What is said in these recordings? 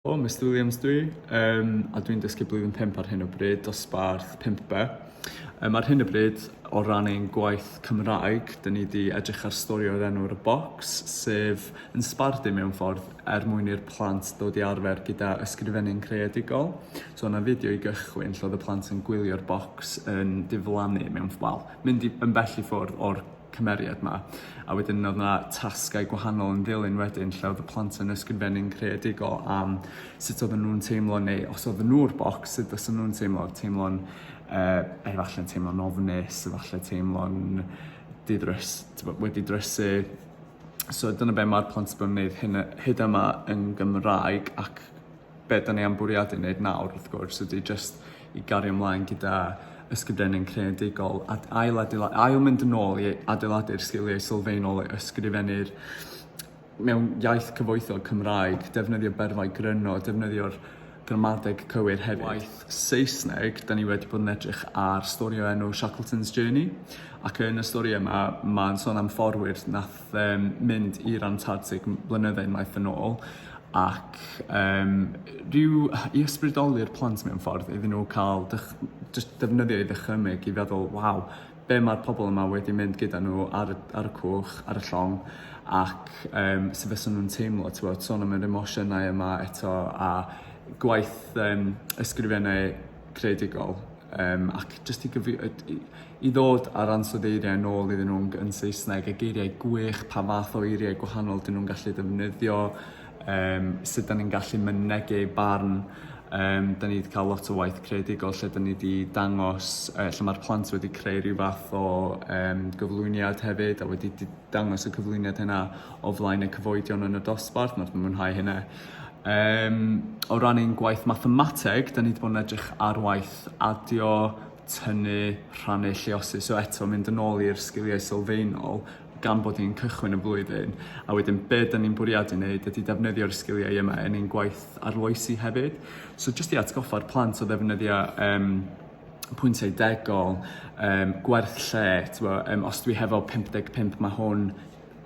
O, Mr Williams dwi, um, a dwi'n dysgu blwyddyn 5 ar hyn o bryd, dosbarth 5B. Um, ar hyn o bryd, o ran ein gwaith Cymraeg, dyn ni wedi edrych ar stori o'r enw ar y bocs, sef yn sbardu mewn ffordd er mwyn i'r plant ddod i arfer gyda ysgrifennu'n creadigol. So yna fideo i gychwyn lle oedd y plant yn gwylio'r bocs yn diflannu mewn, wel, mynd i, yn bell i ffwrdd o'r cymeriad 'ma a wedyn odd 'na tasgau gwahanol yn ddilyn wedyn lle odd y plant yn ysgrifennu'n creadigol am sut oedden nhw'n teimlo neu os oedden nhw'r bocs sut fysa nhw'n teimlo teimlo'n uh, efallai'n teimlo'n ofnus efallai teimlo'n didrys wedi drysu so dyna be' mae'r plant yn gwneud hyn hyd yma yn Gymraeg ac Be da ni am bwriadu wneud nawr, wrth gwrs, ydy jyst i gario ymlaen gyda ysgrifennu'n creadigol a ail, adeilad, ail mynd yn ôl i adeiladu'r sgiliau sylfaenol o ysgrifennu'r mewn iaith cyfoethog Cymraeg, defnyddio berfau gryno, defnyddio'r gramadeg cywir hefyd. Waith Saesneg, da ni wedi bod yn edrych ar stori o enw Shackleton's Journey, ac yn y stori yma, mae'n sôn am fforwyr nath Fe'm mynd i'r Antartic m- blynydde unwaith yn ôl ac yym rhyw i ysbrydoli'r plant mewn ffordd iddyn nhw cael dych- jyst defnyddio ei ddychymyg i feddwl waw be' ma'r pobol yma wedi mynd gyda nhw ar y ar y cwch ar y llong ac yym sut fysan nhw'n teimlo t'wod sôn am yr emosiynau yma eto a gwaith yym ysgrifennu creadigol um, ac jyst i, gyfi, i ddod ar ansoddeiriau yn ôl iddyn nhw'n yn Saesneg a geiriau gwych, pa fath o eiriau gwahanol dyn nhw'n gallu ddefnyddio, um, sut dyn ni'n gallu mynegu barn. Um, dyn ni wedi cael lot o waith creadigol lle dyn ni wedi dangos, uh, lle mae'r plant wedi creu rhyw fath o um, gyflwyniad hefyd a wedi dangos y cyflwyniad hynna o flaen y cyfoedion yn y dosbarth, mae'n mwynhau hynna. Um, o ran ein gwaith mathemateg, da ni wedi bod yn edrych ar waith adio, tynnu, rhannu, lleosu. So eto, mynd yn ôl i'r sgiliau sylfaenol gan bod ni'n cychwyn y flwyddyn. A wedyn, be da ni'n bwriadu wneud ydy defnyddio'r sgiliau yma yn ein gwaith arloesi hefyd. So jyst i atgoffa'r plant o ddefnyddio um, pwyntiau degol, um, gwerth lle, um, os dwi hefo 55 mae hwn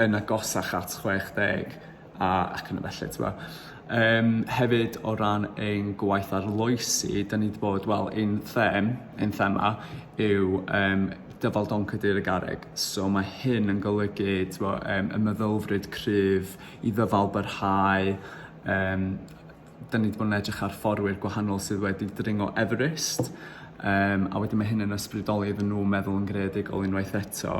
yn agosach at 60, a ac yn y felly ti'n gwbod. Yym hefyd o ran ein gwaith arloesi 'dan ni 'di bod wel ein them ein thema yw yym dyfal don Cadeirydd Garreg so ma' hyn yn golygu t'mo' yym y meddylfryd cryf i ddyfal byrhau yym 'dan ni 'di bod yn edrych ar fforwyr gwahanol sydd wedi dringo Everest yym a wedyn ma' hyn yn ysbrydoli iddyn n'w meddwl yn greadigol unwaith eto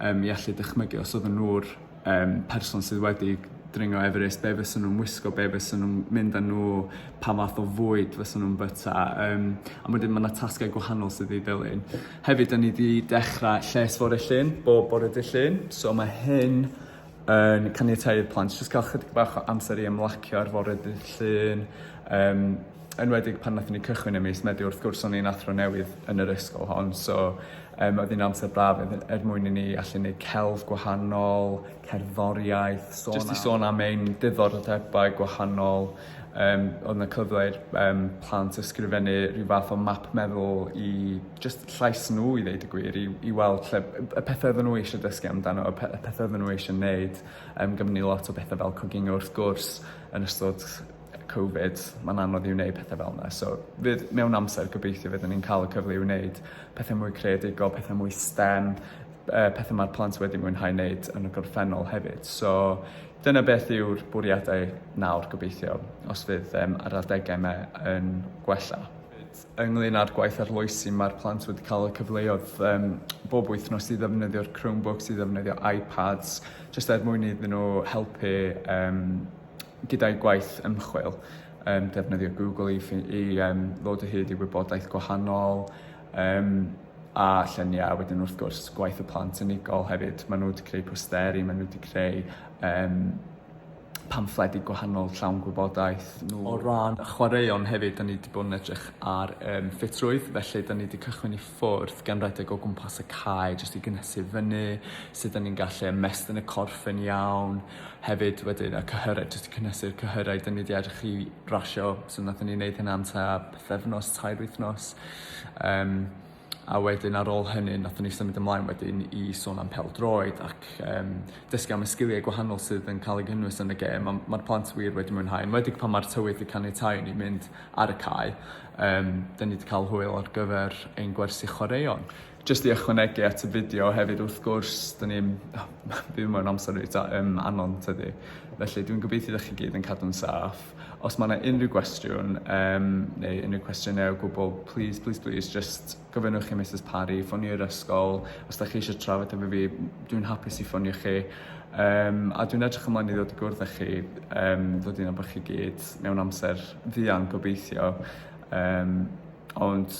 yym i allu dychmygu os odden nw'r um, person sydd wedi dringo Everest, be fysa nhw'n wisgo, be fysa nhw'n mynd â nhw, pa fath o fwyd fysa nhw'n byta. Um, a wedyn mae yna tasgau gwahanol sydd wedi ddilyn. Hefyd, da ni wedi dechrau lles fore llun, bob bore dy llun. So mae hyn yn caniatau i'r plant jyst cael chydig bach o amser i ymlacio ar fore dy llun, um, enwedig pan nathon ni cychwyn ym mis Medi wrth gwrs o'n i'n athro newydd yn yr ysgol hon so um, oedd hi'n amser braf er mwyn i ni allu neud celf gwahanol, cerddoriaeth, sôn Just i sôn am ein diddordebau gwahanol, um, oedd yna cyfle i'r um, plant ysgrifennu rhyw fath o map meddwl i just llais nhw i ddeud y gwir, i, i weld lle, y pethau oedden nhw eisiau dysgu amdano, y, pe y pethau oedden nhw eisiau neud, um, gymryd ni lot o bethau fel coginio wrth gwrs yn ystod Covid, mae'n anodd i wneud pethau fel yna. So, fydd mewn amser gobeithio fydden ni'n cael y cyfle i wneud pethau mwy creadigol, pethau mwy STEM, uh, pethau mae'r plant wedi mwynhau wneud yn y gorffennol hefyd. So, dyna beth yw'r bwriadau nawr gobeithio, os fydd um, ar adegau yma yn gwella ynglyn â'r gwaith arloesi, mae'r plant wedi cael y cyfleoedd um, bob wythnos i ddefnyddio'r Chromebooks, i ddefnyddio iPads, jyst er mwyn iddyn nhw helpu um, Gyda'i gwaith ymchwil, um, defnyddio Google i, i um, ddod o hyd i wybodaeth gwahanol, um, a lluniau, wedyn wrth gwrs gwaith y plant unigol hefyd. Maen nhw wedi creu posteri, maen nhw wedi creu um, pamffledi gwahanol llawn gwybodaeth. Nhw. O ran chwaraeon hefyd, da ni wedi bod yn edrych ar um, ffitrwydd, felly da ni wedi cychwyn i ffwrdd gan redeg o gwmpas y cae jyst i gynhesu fyny, sut o'n ni'n gallu ymestyn y corff yn iawn. Hefyd wedyn y cyhyrau, jyst i cynhesu'r cyhyrau, dyn ni wedi edrych i rasio, so nathon ni wneud hynna am ta pethefnos, tair wythnos. Um, a wedyn ar ôl hynny nathon ni symud ymlaen wedyn i sôn am pel droed ac um, dysgu am y sgiliau gwahanol sydd yn cael ei gynnwys yn y gêm. Mae'r ma plant wir wedi mwynhau, yn wedig pan mae'r tywydd wedi caniatáu ni mynd ar y cae. Yym, 'dyn ni 'di cael hwyl ar gyfer ein gwersi chwaraeon. Jyst i ychwanegu at y fideo hefyd wrth gwrs, 'dyn ni'n... byw mewn amser reit um, anon tydi? Felly dwi'n gobeithio ydych chi gyd yn cadw'n saff. Os mae yna unrhyw gwestiwn um, neu unrhyw cwestiynau o gwbl, please, please, please, just gofynnwch i Mrs Parry, ffonio'r ysgol. Os ydych chi eisiau trafod efo fi, dwi'n hapus i ffonio chi. Um, a dwi'n edrych ymlaen i ddod i gwrdd â chi, um, ddod i'n bod chi gyd mewn amser fuan gobeithio yym ond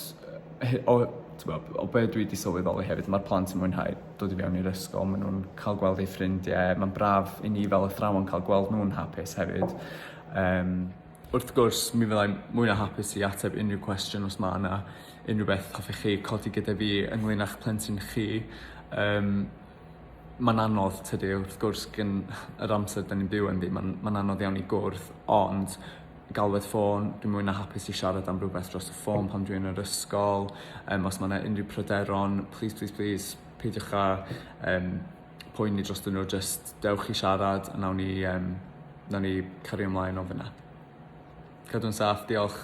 he- o t'bo' o be' dwi 'di sylweddoli hefyd ma'r plant yn mwynhau dod i fewn i'r ysgol ma' nw'n ca'l gweld eu ffrindie ma'n braf i ni fel athrawon ca'l gweld nw'n hapus hefyd yym wrth gwrs mi fyddai'n mwy na hapus i ateb unryw cwestiwn os ma' 'na unrywbeth hoffech chi codi gyda fi ynglŷn â'ch plentyn chi yym Mae'n anodd, tydi, wrth gwrs, gyn yr amser da ni'n byw ynddi, mae'n ma anodd iawn i gwrdd, ond galwedd ffôn, dwi'n mwy na hapus i siarad am rhywbeth dros y ffôn pan dwi'n yr ysgol, um, os mae yna unrhyw pryderon, please, please, please, peidiwch â um, poeni dros nhw, just dewch i siarad a nawn ni, um, nawn ni cario ymlaen o fyna. Cadw'n saff, diolch.